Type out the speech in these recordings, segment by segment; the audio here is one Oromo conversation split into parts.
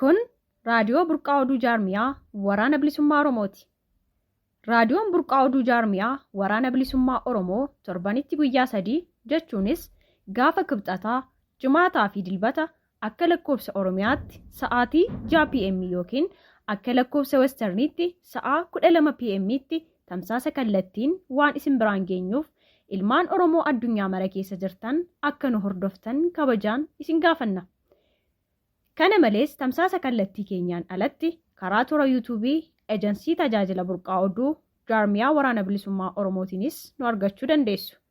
Kun raadiyoo burqaa oduu jaarmiyaa waraana bilisummaa Oromooti. Raadiyoon burqaa oduu jaarmiyaa waraana bilisummaa Oromoo torbanitti guyyaa sadii jechuunis gaafa kibxataa, jimaataa fi dilbata Akka lakkoofsa Oromiyaatti sa'aatii 6:00 PM ykn akka lakkoofsa Western'tti sa'aa 12:00 PM'tti tamsaasa kallattiin waan isin biraan geenyuuf ilmaan Oromoo addunyaa mara keessa jirtan akka nu hordoftan kabajaan isin gaafanna. Kana malees tamsaasa kallattii keenyaan alatti karaa toora YouTube Ejansii Tajaajila Burqaa Oduu Jaarmiyaa Waraana Bilisummaa Oromootiinis nu argachuu dandeessu.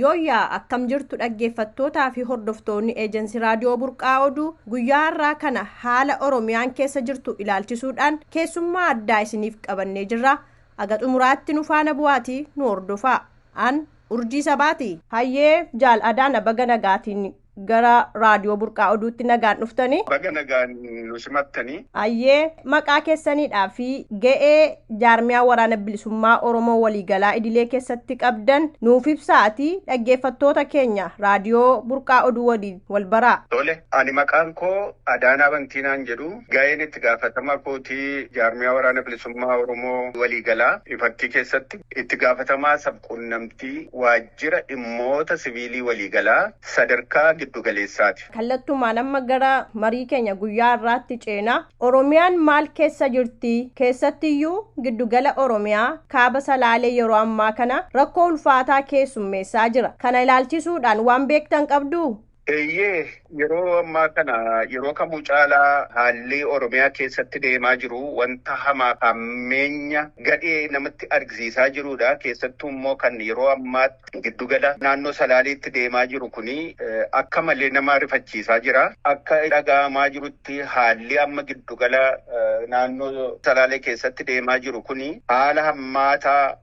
Yooyyaa akkam jirtu dhaggeeffattootaa fi hordoftoonni Eejensi Raadiyoo Burqaa Oduu guyyaa har'aa kana haala Oromiyaan keessa jirtu ilaalchisuudhaan keessummaa addaa isiniif qabannee jirra. Aga xumuraatti nu faana bu'aatii nu hordofaa. An Urjii Sabaati. Hayyee jaal Adaana baga nagaatiin Gara Raadiyoo Burqaa Oduutti nagaan dhuftani. Baga nagaan nu simattani. Ayyee, maqaa keessaniidhaa fi ga'ee jaarmiyaa Waraana Bilisummaa Oromoo waliigalaa idilee keessatti qabdan nuuf ibsaati dhaggeeffattoota keenya Raadiyoo Burqaa Oduu waliin wal baraa. Tole, ani maqaan koo Adaanaa Bantii naan jedhu. Ga'een itti gaafatama kootii jaarmiyaa Waraana Bilisummaa Oromoo waliigalaa Ifattii keessatti itti gaafatamaa sab-quunnamtii waaj. Jira dhimmoota siviilii waliigalaa sadarkaa giddu galeessaati. Kallattumaan amma gara marii keenya guyyaa har'aatti ceena. Oromiyaan maal keessa jirti? Keessattiyyuu giddu gala Oromiyaa kaaba Salaalee yeroo ammaa kana rakkoo ulfaataa keessummeessaa jira. Kana ilaalchisuudhaan waan beektan qabduu? Eeyyee yeroo ammaa kana yeroo kamuu caalaa haalli Oromiyaa keessatti deemaa jiru wanta hamaa fi hammeenya gadhee namatti argisiisaa jiruudha. Keessattuu immoo kan yeroo ammaatti giddugala naannoo Salaaleetti deemaa jiru kun akka malee nama rifachiisaa jira. Akka dhaga'amaa jirutti haalli amma giddugala naannoo Salaalee keessatti deemaa jiru kun haala hammaataa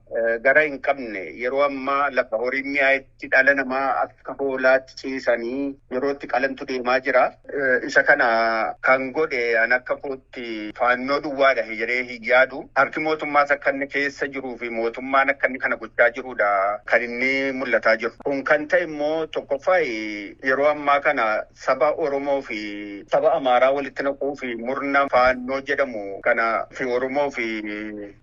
gara hin qabne yeroo ammaa lafa horiin mi'aayetti itti dhala namaa akka hoolaatti ciisanii yeroo itti qalantu deemaa jira. Isa kana kan godhe an akka kootti faannoo duwwaadha jedhee hin yaadu. Harki mootummaas akka inni keessa jiruu fi mootummaan akka inni kana gochaa jiruudha kan inni mul'ataa jiru. Kun kan ta'e immoo tokkoffaa yeroo ammaa kana saba Oromoo fi saba Amaaraa walitti naquu fi murna faannoo jedhamu kana fi Oromoo fi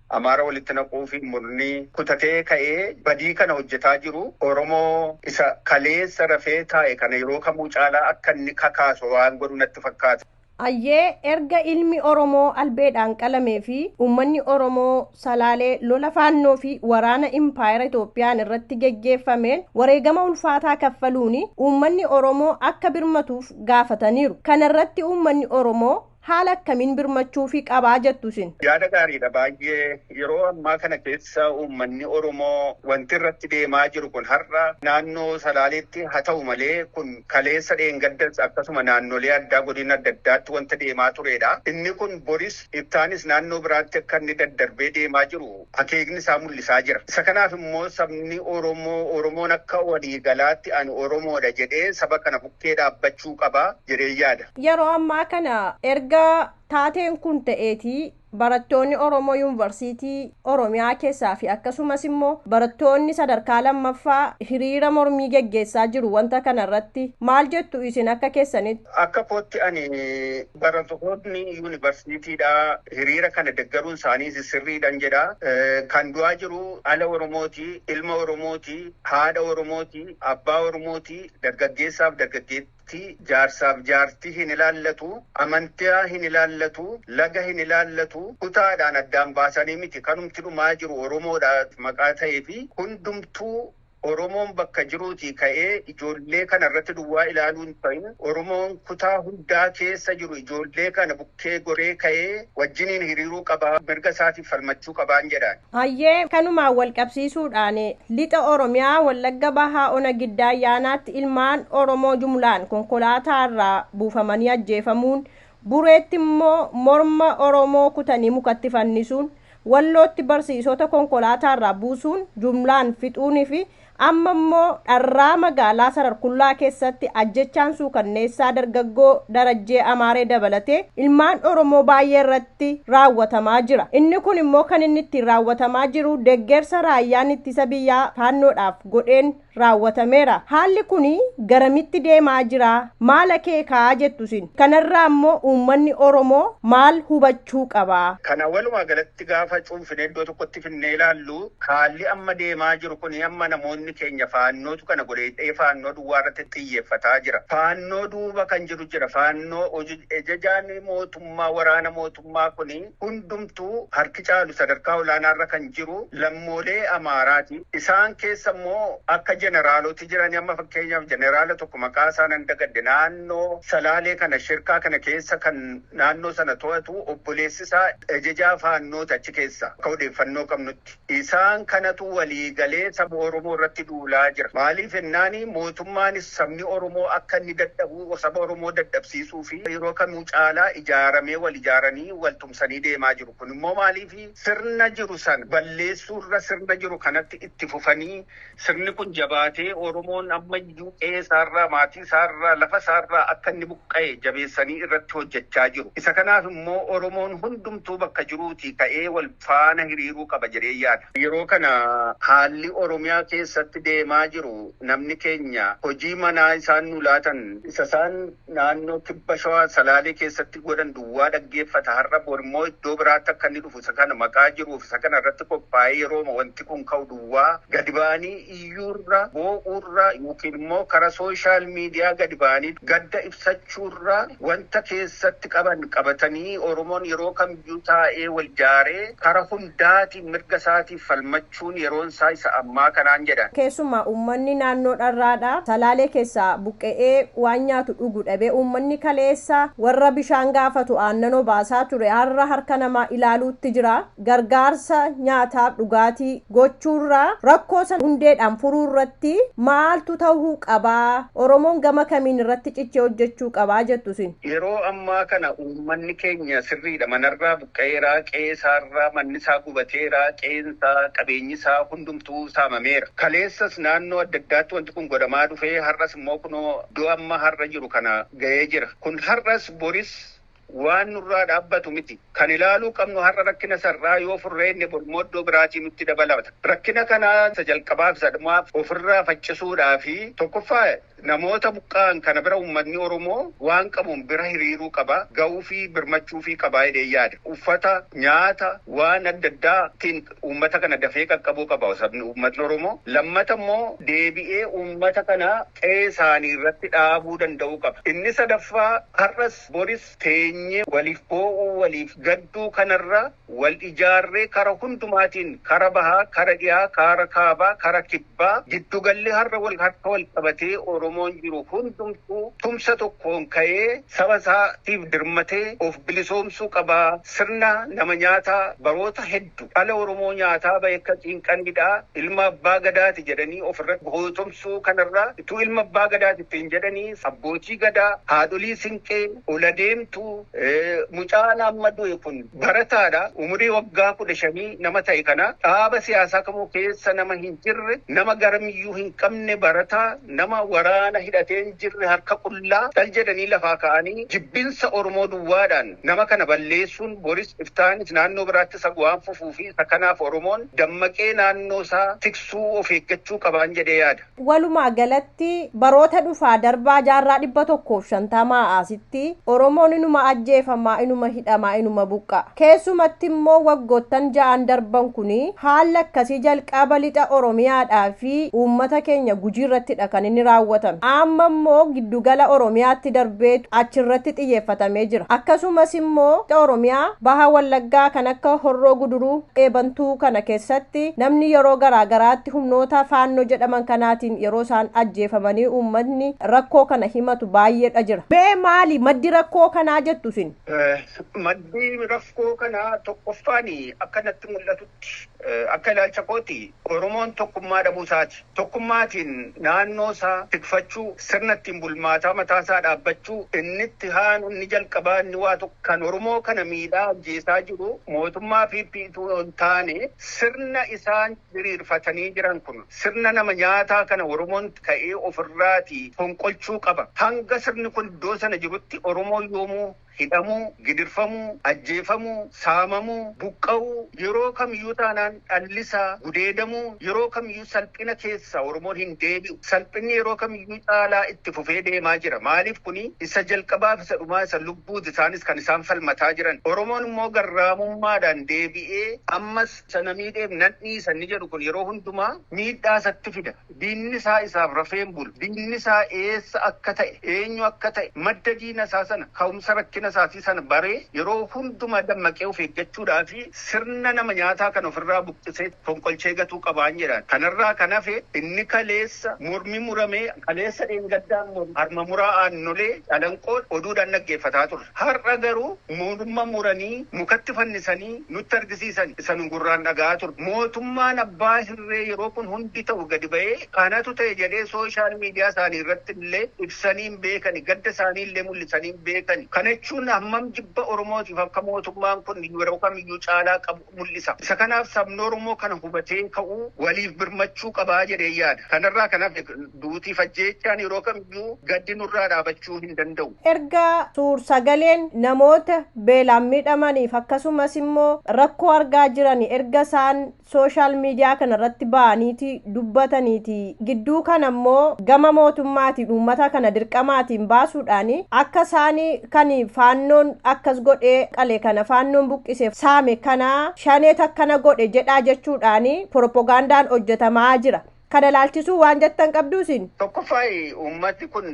Amaara walitti naquufi murni kutatee ka'ee badii kana hojjetaa jiru Oromoo isa kaleessa rafee taa'e kana yeroo kamuu caalaa akka inni kakaasu waan godhu natti fakkaata. Ayyee erga ilmi Oromoo albeedhaan qalamee fi uummanni Oromoo Salaalee lola Faannoo fi waraana Impaayera Itoophiyaan irratti geggeeffameen wareegama ulfaataa kaffaluun uummanni Oromoo akka birmatuuf gaafataniiru. Kana irratti uummanni Oromoo haala akkamiin birmachuufi qabaa jettu isin? Yaada gaariidha baay'ee. Yeroo ammaa kana keessa uummanni Oromoo wanti irratti deemaa jiru kun har'a naannoo Salaaleetti haa ta'u malee kun kaleessa dheengaddas akkasuma naannolee addaa godina adda addaatti wanta deemaa tureedha. Inni kun boris ittaanis naannoo biraatti akka inni daddarbee deemaa jiru akeekni isaa mul'isaa jira. Isa kanaaf immoo sabni Oromoo, Oromoon akka walii galaatti ani Oromoo dha jedhee saba kana bukkee dhaabbachuu qaba jedheen yaada. Yeroo ammaa kana erga taateen kun ta'eeti barattoonni Oromoo Yuunvarsiitii Oromiyaa keessaa fi akkasumas immoo barattoonni sadarkaa lammaffaa hiriira mormii geggeessaa jiru wanta kana irratti. Maal jettu isin akka keessanitti? Akka kootti ani Baratootni yuunivarsiitiidhaa hiriira kana deggaruun isaaniis sirriidhan jedha. Kan du'aa jiru dhala Oromooti, ilma Oromooti, haadha Oromooti, abbaa Oromooti, dargaggeessaaf dargaggeettii, jaarsaaf jaartii hin ilaallatu, amantaa hin ilaallatu, laga hin ilaallatu, kutaadhaan addaan baasanii miti. Kanumti dhumaa jiru Oromoodha maqaa ta'eefi hundumtuu Oromoon bakka jiruutii ka'ee ijoollee kana irratti duwwaa ilaaluu hin ta'in Oromoon kutaa hundaa keessa jiru ijoollee kana bukkee goree ka'ee wajjiniin hiriiruu qaba, mirga isaatiif falmachuu qabaan jedhaan. Hayyee, kanumaan walqabsiisuudhaan Lixa Oromiyaa Wallagga Bahaa Ona Giddaa Ayyaanaatti ilmaan Oromoo jumlaan konkolaataa irraa buufamanii ajjeefamuun, Bureetti immoo morma Oromoo kutanii mukatti fannisuun, Wallootti barsiisota konkolaataarraa buusuun jumlaan fixuunii fi amma immoo dharraa magaalaa Sararkullaa keessatti ajjechaan suukanneessaa dargaggoo Darajjee Amaaree dabalatee ilmaan Oromoo baay'ee irratti raawwatamaa jira. Inni kun immoo kan inni ittiin raawwatamaa jiru deggersa raayyaan ittisa biyyaa Faannoodhaaf godheen raawwatameera. Haalli kun garamitti deemaa jira? Maal akeeka jettu isin? Kanarraa immoo uummanni Oromoo maal hubachuu qaba? Kana walumaa galatti gaafa cuunfinee iddoo tokkotti finnee ilaallu haalli amma deemaa jiru kun amma namoonni keenya Faannootu kana godhe jedhee Faannoo duwwaa irratti xiyyeeffataa jira. Faannoo duuba kan jiru jira. Faannoo ajajaan mootummaa waraana mootummaa. mootummaa kun hundumtuu harki caalu sadarkaa olaanaarra kan jiru lammoolee Amaaraati. Isaan keessa immoo akka jeneraaloti jirani amma fakkeenyaaf jeneraala tokko maqaa isaa nan dagadhe naannoo Salaalee kana shirkaa kana keessa kan naannoo sana to'atu obboleessi isaa ajajaa faannooti achi keessa akka odeeffannoo qabnutti. Isaan kanatu walii galee saba Oromoo irratti duulaa jira. Maaliif jennaan mootummaanis sabni Oromoo akka inni dadhabu saba Oromoo dadhabsiisuuf yeroo kamuu caalaa ijaaramee wal ijaaranii wal tumsanii deemaa jiru. Kun immoo maaliif sirna jiru sana balleessuu irra sirna jiru kanatti itti fufanii Sirni kun jabaatee Oromoon ammayyuu qe'ee isaarraa, maatii isaarraa, lafa isaarraa akka inni buqqa'e jabeessanii irratti hojjechaa jiru. Isa kanaaf immoo Oromoon hundumtuu bakka jiruutii ka'ee wal faana hiriiruu qaba jedheen yaada. Yeroo kana haalli Oromiyaa keessatti deemaa jiru namni keenya hojii manaa isaan nu laatan isa isaan naannoo Kibba Shawaa Salaalee keessatti godhan duwwaa dhaggeeffata, har'a bor immoo iddoo biraatti akka inni dhufu isa kana maqaa jiruu fi isa kana irratti qophaa'ee yerooma wanti kun ka'u duwwaa gadi ba'anii iyyuu irra, boo'uu irra ykn immoo kara social media gadi ba'anii gadda ibsachuu irra wanta keessatti qaban qabatanii Oromoon yeroo kamiyyuu taa'ee wal jaaree kara hundaatiin mirga isaatiif falmachuu jechuun yeroonsaa isa ammaa kanaan jedhan. Keessumaa uummanni naannoo Dharraadhaa, Salaalee keessaa buqqe'ee waan nyaatu dhugu dhabee uummanni kaleessa warra bishaan gaafatu aannan obaasaa ture har'a harka namaa ilaaluutti jira. Gargaarsa nyaataaf dhugaatii gochuurra rakkoo san hundeedhaan furuurratti maaltu tahuu qaba? Oromoon gama kamiin irratti cichee hojjechuu qaba jettu isin? Yeroo ammaa kana uummanni keenya sirriidha manarraa ga'eeraa, qe'ee isaarraa manni isaa gubateera, qe'een isaa, qabeenyi isaa hundumtuu saamameera. Kaleessas naannoo adda addaatti wanti kun godhamaa dhufee har'as immoo kunoo iddoo amma har'a jiru kana ga'ee jira. Kun har'as boris waan nurraa dhaabbatu miti. Kan ilaaluu qabnu har'a rakkina isa irraa yoo furree inni bor immoo iddoo biraatii nutti dabalata. Rakkina kana isa jalqabaaf isa dhumaaf ofirraa faccisuudhaafi tokkoffaa, Namoota buqqa'an kana bira ummatni Oromoo waan qabuun bira hiriiruu qaba, ga'uufii, birmachuufii qaba jedheen yaada. Uffata, nyaata, waan adda addaa tiin ummata kana dafee qaqqabuu qaba sabni, ummatni Oromoo. Lammata immoo deebi'ee ummata kana qe'ee isaanii irratti dhaabuu danda'uu qaba. Inni sadaffaa har'as boris teenyee waliif boo'uu, waliif gadduu kana irra wal ijaarree kara hundumaatiin, kara bahaa, kara dhihaa, kaara kaabaa, kara kib. Ba, Giddugalli har'a wal harka wal qabatee Oromoon jiru hundumtuu tumsa tokkoon ka'ee saba isaa tiif dirmatee of bilisoomsuu qaba. Sirna nama nyaataa baroota heddu dhala Oromoo nyaataa bahe ka ciinqaniidha. Ilma Abbaa Gadaati jedhanii of irratti gootomsuu kanarra utuu ilma Abbaa Gadaati ittiin jedhanii Abbootii Gadaa, Haadholii Sinqee, Oladeemtuu, mucaan amma du'e kun, Barataadha, umurii waggaa 15 nama ta'e kana, dhaaba siyaasaa kamuu keessa nama hin jirre, nama garamiyyuu hin qabne, barataa, nama waraana hidhatee hin jirre, harka qullaa, dhal jedhanii lafaa ka'anii jibbinsa Oromoo duwwaadhaan nama kana balleessuun boris iftaanis naannoo biraattis hagu waan fufuu fi isa kanaaf Oromoon dammaqee naannoo isaa tiksuu of eeggachuu qabaan jedhee yaada. Walumaa galatti baroota dhufaa darbaa jaarraa 150 asitti Oromoon inuma ajjeefamaa, inuma hidhamaa, inuma buqqa'a. Keessumatti immoo waggoottan ja'an darban kun haalli akkasii jalqaba lixa Oromiyaadhaa fi uummata keenya Gujii irrattidha kan inni raawwatame. Amma immoo giddu gala Oromiyaatti darbeetu achi irratti xiyyeeffatamee jira. Akkasumas immoo lixa Oromiyaa baha Wallaggaa kan akka Horroo Guduruu, Qe'ee Bantuu kana keessatti namni yeroo garaa garaatti. Achitti humnoota Faannoo jedhaman kanaatiin yeroo isaan ajjeefamanii uummatni rakkoo kana himatu baay'eedha jira. Mee maali maddi rakkoo kanaa jettu isin? Maddi rakkoo kanaa tokkoffaan akka natti mul'atutti akka ilaalcha kooti Oromoon tokkummaa dhabuu isaati. Tokkummaatiin naannoo isaa tikfachuu, sirna ittiin bulmaataa mataa isaa dhaabbachuu, inni itti haanu, inni jalqabaa, inni waa tokko kan Oromoo kana miidhaa ajjeesaa jiru mootummaa PP utuu hin taane sirna isaan diriirfatanii jiran kun sirna nama nyaataa kana Oromoon ka'ee ofirraatii fonqolchuu qaba. Hanga sirni kun iddoo sana jirutti Oromoon yoomuu hidhamuu, gidirfamuu, ajjeefamuu, saamamuu, buqqa'uu, yeroo kamiyyuu taanaan dhallisaa gudeedamuu, yeroo kamiyyuu salphina keessaa Oromoon hin deebi'u. Salphinni yeroo kamiyyuu caalaa itti fufee deemaa jira. Maaliif kuni isa jalqabaaf isa dhumaa isa lubbuuti isaanis kan isaan falmataa jiran. Oromoon immoo garraamummaadhaan deebi'ee ammas Isa na miidheef nan dhiisa inni jedhu kun yeroo hundumaa miidhaa isatti fida. Diinni isaa isaaf rafee hin bulu. Diinni isaa eessa akka ta'e, eenyu akka ta'e, madda diina isaa sana, ka'umsa rakkina isaatii sana baree yeroo hundumaa dammaqee of eeggachuudhaaf sirna nama nyaataa kana ofirraa buqqisee fonqolchee gatuu qabaan jedhaan. Kanarraa kan hafe inni kaleessa mormi muramee, kaleessa dheengaddaan mormi, harma muraa aannolee, calanqoo oduudhaan dhaggeeffataa turre. Har'a garuu moorma muranii mukatti fannisanii nutti argisiisan. Isa nu gurraan dhaga'aa turre. Mootummaan abbaa hirree yeroo kun hundi ta'u gadi ba'ee kanatu ta'e jedhee sooshaal miidiyaa isaanii irratti illee ibsanii hin beekani. Gadda isaanii illee mul'isanii hin beekani. Kana jechuun hammam jibba Oromootiif akka mootummaan kun yeroo kamiyyuu caalaa qabu. mul'isa. Isa kanaaf sabni Oromoo kana hubatee ka'uu, waliif birmachuu qaba jedheen yaada. Kanarraa kan hafe duutii fi ajjeechaan yeroo kamiyyuu gaddi nurraa dhaabachuu hin danda'u. Erga suur-sagaleen namoota beelaan miidhamaniif akkasumas immoo rakkoo argaa jiranii erga isaan social media kana irratti ba'aniitii dubbataniiti. Gidduu kana immoo gama mootummaatiin uummata kana dirqamaatiin baasuudhaan akka isaan kan faannoon akkas godhee qale kana faannoon buqqise saame kana shaneet akkana godhe jedhaa jechuudhaan poropogaandaan hojjetamaa jira. Kana ilaalchisuu waan jettan qabduu isin? Tokkoffaa uummati kun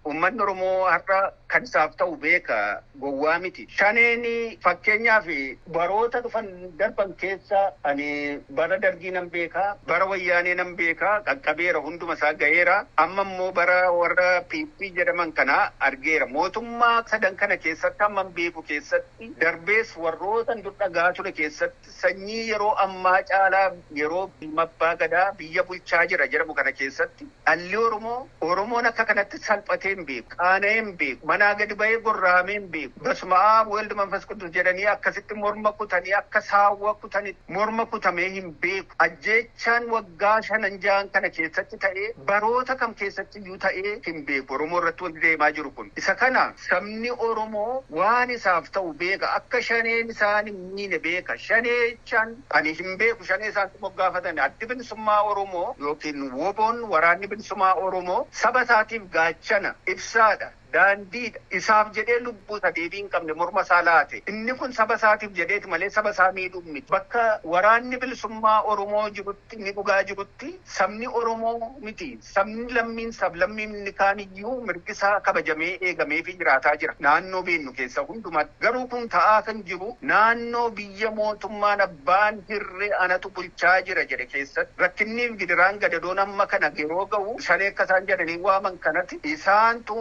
Ummanni Oromoo har'a kan isaaf ta'u beeka, gowwaa miti. Shaneen fakkeenyaaf baroota dhufan darban keessa ani bara Dargii nan beeka, bara Wayyaanee nan beeka, qaqqabeera hunduma isaa gaheera. Amma immoo bara warra PP jedhaman kana argeera. Mootummaa sadan kana keessatti hamman beeku keessatti darbees warrootan dur dhaga'aa ture keessatti. Sanyii yeroo ammaa caalaa yeroo ilma abbaa gadaa biyya bulchaa jira jedhamu kana keessatti dhalli Oromoo Oromoon akka kanatti salphatee hin beeku, qaana'ee hin beeku, manaa gadi ba'ee gorra'amee hin beeku. Basma'aab Wald Manfas Quddus jedhanii akkasitti morma kutanii akka saawwa kutanitti morma kutamee hin beeku. Ajjeechaan waggaa shanan jahan kana keessatti ta'ee baroota kam keessatti. eenyu ta'ee hin beeku. Oromoo irratti wanti deemaa jiru kun. Isa kana sabni Oromoo waan isaaf ta'u beeka. Akka Shaneen isaan hin miine beeka. Shanee jechaan ani hin beeku Shanee isaantu moggaafatani. Addi Bilisummaa Oromoo ykn WBOn, Waraanni Bilisumaa Oromoo, saba isaatiif gaachana, ibsaadha. Daandii dha. Isaaf jedhee lubbuu isa deebii hin qabne morma isaa laate. Inni kun saba isaatiif jedheeti malee saba isaa miidhuuf miti. Bakka waraanni bilisummaa Oromoo jirutti, inni dhugaa jirutti sabni Oromoo miti sabni lammiin sablammiin inni kaan iyyuu mirgi isaa kabajamee eegameefii jiraataa jira naannoo beennu keessa hundumaatti. Garuu kun ta'aa kan jiru naannoo biyya mootummaan abbaan hirree anatu bulchaa jira jedhe keessatti rakkinniif gidiraan gadadoon amma kana yeroo gahu shanee akka isaan jedhanii waaman kanati isaantu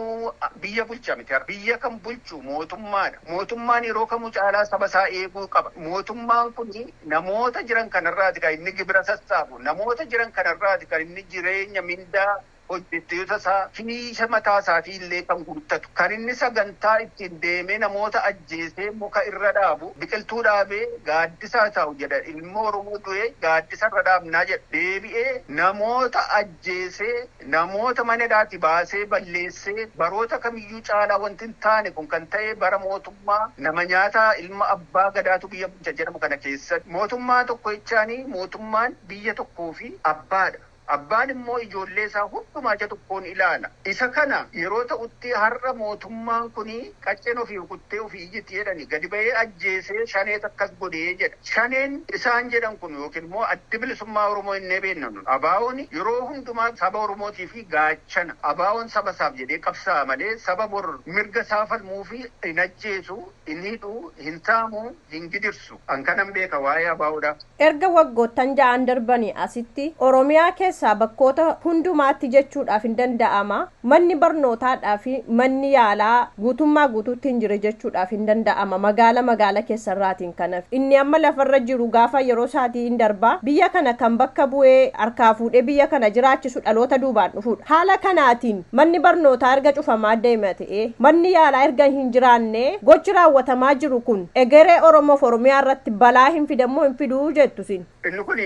biyya bulcha miti har'a biyya kan bulchu mootummaadha mootummaan yeroo kamuu caalaa saba isaa eeguu qaba mootummaan kun namoota jiran kanarraati kan inni gibira sassaabu namoota jiran kanarraati kan inni jireenya mindaa hojjettoota isaa finiisha mataa isaatii illee kan guuttatu, kan inni sagantaa ittiin deemee namoota ajjeesee muka irra dhaabu, biqiltuu dhaabee gaaddisa haa taa'u jedha, ilmi Oromoo du'e gaaddisa irra dhaabnaa jedha, deebi'ee namoota ajjeesee, namoota mana hidhaatii baasee balleessee, baroota kamiyyuu caalaa wanti hin taane kun kan ta'e bara mootummaa nama nyaataa ilma abbaa gadaatu biyya bulcha jedhamu kana keessatti. Mootummaa tokko jechaanii mootummaan biyya tokkoo fi abbaa dha. Abbaan immoo ijoollee isaa hundumaa ija tokkoon ilaala. Isa kana yeroo ta'utti har'a mootummaan kun qacceen ofii rukuttee ofii iyyiti jedhani gadi ba'ee ajjeesee shaneet akkas godhe jedha. Shaneen isaan jedhan kun ykn immoo Addi Bilisummaa Oromoo jennee beenna nun ABOn yeroo hundumaa saba Oromootii fi gaachana. ABOn saba isaaf jedhee qabsaa'a malee saba bor mirga isaa falmuufi hin ajjeesu, hin hidhu, hin saamu. hin gidirsu. An kanan beeka waa'ee ABOdha. Erga waggoottan ja'an darbanii asitti Oromiyaa keessaa bakkoota hundumaatti jechuudhaaf hin danda'ama, manni barnootaadhaa fi manni yaalaa guutummaa guutuutti hin jire jechuudhaaf hin danda'ama, magaala magaala keessarraatiin kan hafe. Inni amma lafarra jiru gaafa yeroo isaatii in darba. Biyya kana kan bakka bu'ee harkaa fuudhee biyya kana jiraachisu dhaloota duubaan dhufuudha. Haala kanaatiin manni barnootaa erga cufamaa deeme Manni yaalaa erga hin jiraanne gochi raawwatamaa jiru kun egeree Oromoo fi Oromiyaa irratti balaa hin fida moo hin fidu jettu isin? Inni kun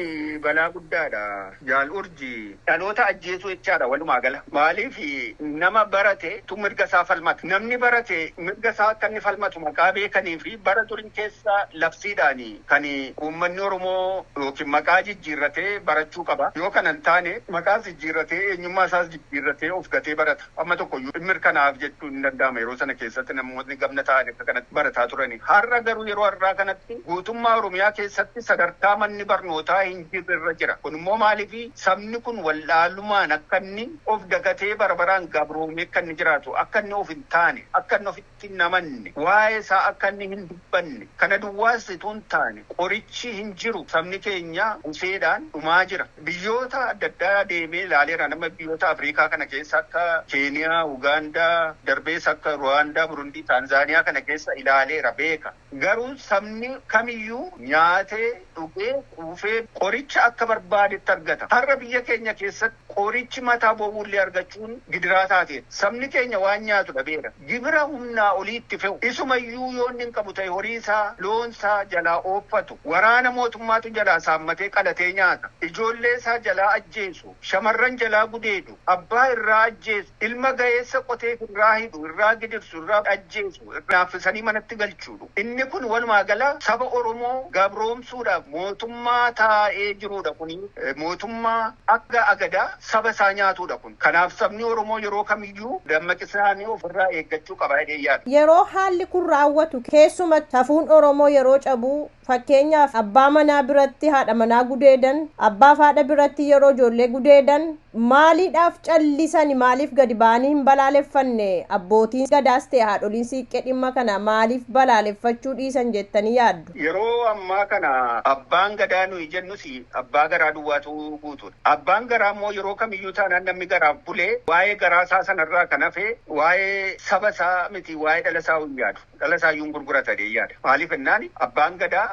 balaa guddaa dha Jaal Urji. Dhaloota ajjeesuu jechaa dha walumaa gala. Maaliif nama barate tu mirga isaa falmata. Namni barate mirga isaa akka inni falmatu maqaa beekanii fi bara durii keessa labsiidhaan kan uummanni Oromoo ykn maqaa jijjiirratee barachuu qaba. Yoo kana hin taane maqaas jijjiirratee eenyummaa isaas jijjiirratee of gatee barata. Amma tokko iyyuu in mirkanaa'aaf jechuun in danda'ama. Yeroo sana keessatti namootni gamna taa'anii akka kanatti barataa turani. Har'a garuu yeroo har'aa kanatti guutummaa Oromiyaa keessatti sadarkaa manni barnootaa hin jirre irra jira. Kun immoo maaliifi? Sabni kun wallaalumaan akka inni of dagatee bara baraan gabroomee akka inni jiraatu, akka inni of hin taane, akka inni of. irratti hin amanne, waa'ee isaa akka inni hin dubbanne, kana duwwaas utuu hin taane qorichi hin jiru, sabni keenya buseedhaan dhumaa jira. Biyyoota adda addaa deemee ilaaleera, nama biyyoota Afriikaa kana keessa akka Keeniyaa, Ugaandaa, darbees akka Ruwaandaa, Burundii, Taanzaaniyaa kana keessa ilaaleera, beeka. Garuu sabni kamiyyuu nyaatee, dhugee, quufee qoricha akka barbaadetti argata. Har'a biyya keenya keessatti qorichi mataa bowwuullee argachuun gidiraa taateetti. Sabni keenya waan nyaatu dhabeera. Gibira humnaa olii itti fe'u. Isumayyuu yoo inni hin qabu ta'e horiisaa, loonsaa jalaa ooffatu. Waraana mootummaatu jalaa saammatee qalatee nyaata. Ijoolleesaa jalaa ajjeesu. Shamarran jalaa gudeedu. Abbaa irraa ajjeesu. Ilma gaheessa qotee irraa hidhu, irraa gidirsu, irraa ajjeesu. laaffisanii manatti galchuudhu. Inni kun walumaa gala saba Oromoo gabroomsuudhaaf mootummaa taa'ee jiruudha kuni mootummaa akka agadaa saba isaa nyaatuudha kun. Kanaaf sabni Oromoo yeroo kamiyyuu dammaqisnaanii of irraa eeggachuu qaba jedheen yaada. Yeroo haalli kun raawwatu keessumatti safuun Oromoo yeroo cabu Fakkeenyaaf, abbaa manaa biratti haadha manaa gudeedan, abbaa fi haadha biratti yeroo ijoollee gudeedan maaliidhaaf callisani maaliif gadi ba'anii hin balaaleffanne? Abbootiin Gadaas ta'e haadholiin Siiqqee dhimma kana maaliif balaaleffachuu dhiisan jettanii yaaddu? Yeroo ammaa kana abbaan Gadaa nuyi jennus abbaa garaa duwwaatu guutuudha. Abbaan garaa immoo yeroo kamiyyuu taanaan namni garaaf bule waa'ee garaa isaa sana irraa kan hafe waa'ee saba isaa miti waa'ee dhala isaa hin yaadu. Dhala isaayyuu hin gurgurata jedheen yaada. Maaliif jennaan Abbaan Gadaa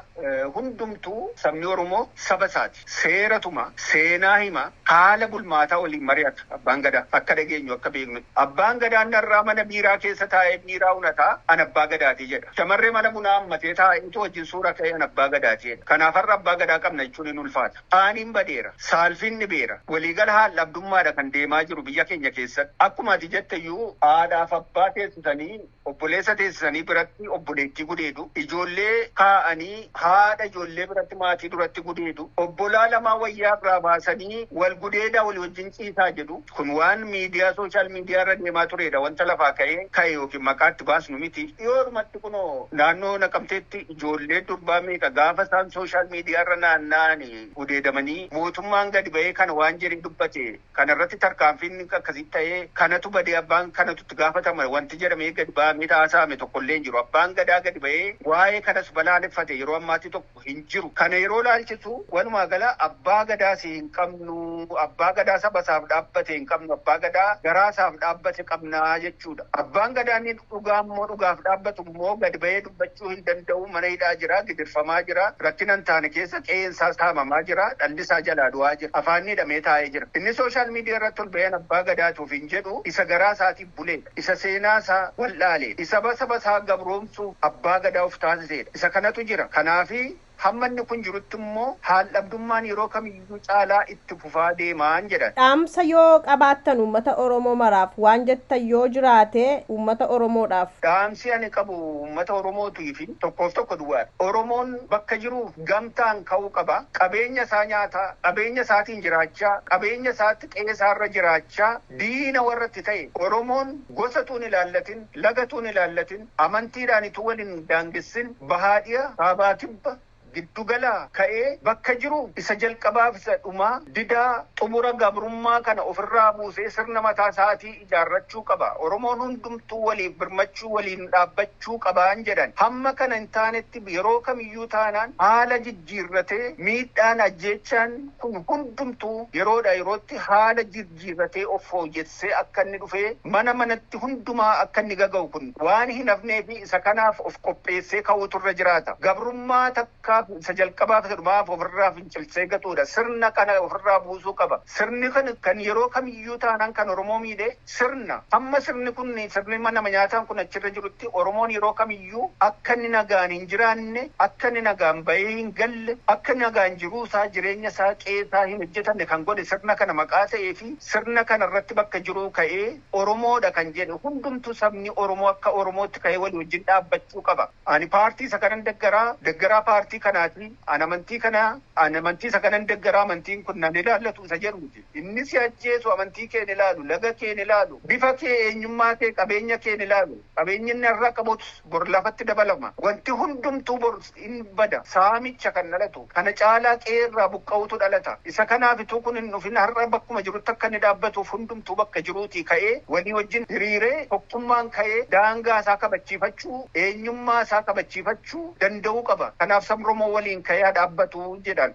hundumtuu sabni Oromoo saba isaati. Seera tuma, seenaa hima, haala bulmaataa waliin mari'ata Abbaan Gadaa. Akka dhageenyu, akka beeknutti. Abbaan Gadaa narraa mana biiraa keessa taa'ee biiraa unata an Abbaa Gadaati jedha. Shamarree mana bunaa hammatee taa'eetu wajjin suura ka'e an Abbaa Gadaati jedha. Kanaaf har'a Abbaa Gadaa qabna jechuun hin ulfaata. Qaaniin badeera. Saalfiin dhibeera. Waliigala haal-dhabdummaadha kan deemaa jiru biyya keenya keessatti. Akkuma ati jetteyyuu haadhaaf abbaa teessisanii Obboleessa teessanii biratti obboleettii gudeedu, ijoollee kaa'anii haadha ijoollee biratti maatii duratti gudeedu, obbolaa lamaa wayyaa irraa baasanii wal gudeedaa walii wajjin ciisaa jedhu. Kun waan miidiyaa social media irra deemaa tureedha wanta lafaa ka'ee ka'e yookiin maqaa itti baasnu miti. Dhiyoodhumatti kunoo naannoo Naqamteetti ijoollee durbaa meeqa gaafa isaan social media irra naanna'ani gudeedamanii mootummaan gadi ba'ee kana waan jedhee dubbate kana irratti tarkaanfiin akkasii ta'ee kanatu badee abbaan kanatu itti gaafatama wanti jedhamee gadi ba'amee haasa'ame tokko illee hin jiru. Abbaan Gadaa gadi ba'ee waa'ee kanas balaaleffate yeroo ammaatti tokko hin jiru. Kana yeroo ilaalchisu walumaa gala Abbaa Gadaas hin qabnu, Abbaa Gadaa saba isaaf dhaabbate hin qabnu, Abbaa Gadaa garaa isaaf dhaabbate qabna jechuudha. Abbaan Gadaa inni Dhugaan moo dhugaaf dhaabbatu moo gad bahee dubbachuu hin danda'u, mana hidhaa jira, gidirfamaa jira, rakkina hin taane keessa qe'een isaa saamamaa jira, dhalli isaa jalaa du'aa jira, afaanni hidhamee taa'ee jira. Inni social media irratti ol bahee an abbaa gadaati ofiin jedhu isa garaa isaatiif buleedha. Isa seenaa isaa wal'aaleedha. Isa saba isaa gabroomsuuf abbaa gadaa of taasiseedha. Isa kanatu jira. Kanaafi Hamma inni kun jirutti immoo haal-dhabdummaan yeroo kamiyyuu caalaa itti fufaa deemaan jedhan. Dhaamsa yoo qabaattan uummata Oromoo maraaf waan jettan yoo jiraate uummata Oromoodhaaf. Dhaamsi ani qabu uummata Oromootiif tokkoof tokko duwwaadha. Oromoon bakka jiruuf gamtaan ka'uu qaba. Qabeenya isaa nyaataa, qabeenya isaatiin jiraachaa, qabeenya isaatti qe'ee isaarra jiraachaa diina warra itti ta'e Oromoon gosa utuu hin ilaallatin, laga utuu hin ilaallatin, Amantiidhaan utuu wal hin daangessin bahaa dhi'a, kaabaa kibba, giddu galaa ka'ee bakka jiru isa jalqabaaf isa dhumaa, didaa, xumura gabrummaa kana ofirraa buusee sirna mataa isaatii ijaarrachuu qaba. Oromoon hundumtuu waliif birmachuu, waliin dhaabbachuu qabaan jedhan. Hamma kana hin taanetti yeroo kamiyyuu taanaan haala jijjiirratee miidhaan, ajjeechaan kun hundumtuu yeroodhaa yerootti haala jiifatee of fooyyessee akka inni dhufee mana manatti hundumaa akka inni gaga'u kun waan hin hafnee fi isa kanaaf of qopheessee ka'uutu irra jiraata. Gabrummaa takkaaf isa jalqabaa fi isa dhumaaf of irraa fincilsee gatuu dha. Sirna kana of irraa buusuu qaba. Sirni kun kan yeroo kamiyyuu taanaan kan Oromoo miidhe sirna. Hamma sirni kun sirni nama nyaataan kun achi irra jirutti Oromoon yeroo kamiyyuu. iyyuu akka inni nagaan hin jiraanne, akka inni nagaan ba'ee hin galle, akka inni nagaan jiruu isaa, jireenya isaa, qe'ee isaa hin hojjetanne kan godhe sirna kana maqaa ta'ee fi sirna kana irratti bakka jiruu ka'ee Oromoo dha kan jedhe hundumtuu sabni Oromoo akka Oromootti ka'ee walii wajjin dhaabbachuu qaba. Ani paartii isa kanan deggaraa, deggaraa paartii kanaati, ani amantii kana, ani amantii isa kanan deggaraa, amantiin kun na hin ilaallatu isa jedhu miti. Inni si ajjeesu amantii kee hin ilaalu, laga kee hin ilaalu, bifa kee, eenyummaa kee, qabeenya kee hin ilaalu. Qabeenyi inni har'a qabus bor lafatti dabalama. Wanti hundumtuu bor in bada. Saamicha kan dhalatu, kana caalaa qe'ee irraa buqqa'uutu dhalata. Isa kanaaf utuu kun hin dhufin har'a bakkuma jirutti akka inni dhaabbatuuf hundumtuu bakka jiruutii ka'ee walii wajjin hiriiree tokkummaan ka'ee daangaa isaa kabachiifachuu, eenyummaa isaa kabachiifachuu danda'uu qaba. Kanaaf sabni Oromoo waliin ka'ee haa dhaabbatu jedhan.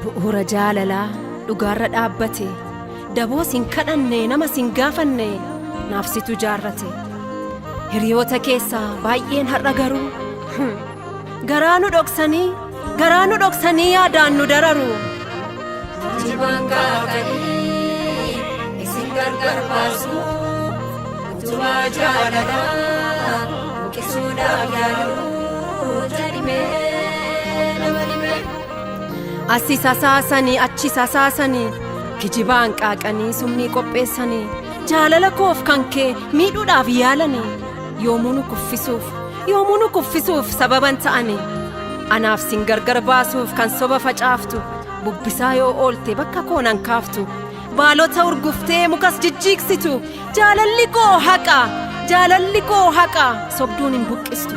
Bu'uura jaalalaa dhugaarra dhaabbate daboo sin kadhanne nama sin gaafanne naaf situ jaarrate hiriyoota keessaa baay'een har'a garuu garaa nu dhoksanii garaa nu dhoksanii yaadaan nu dararu. Jibaan kaakanii isin gargar baasu utubaa jaalalaa buqisuudhaaf yaalu. Asi sasaasanii achi sasaasanii kijibaan qaaqanii summii qopheessanii jaalala koof kan kee miidhuudhaaf yaalanii yoomuu nu kuffisuuf yoomuu nu kuffisuuf sababan ta'anii anaaf sin gargar baasuuf kan soba facaaftu bubbisaa yoo oolte bakka koonan kaaftu baalota urguftee mukas jijjiiksitu jaalalli koo haqa jaalalli koo haqa sobduun hin buqqistu.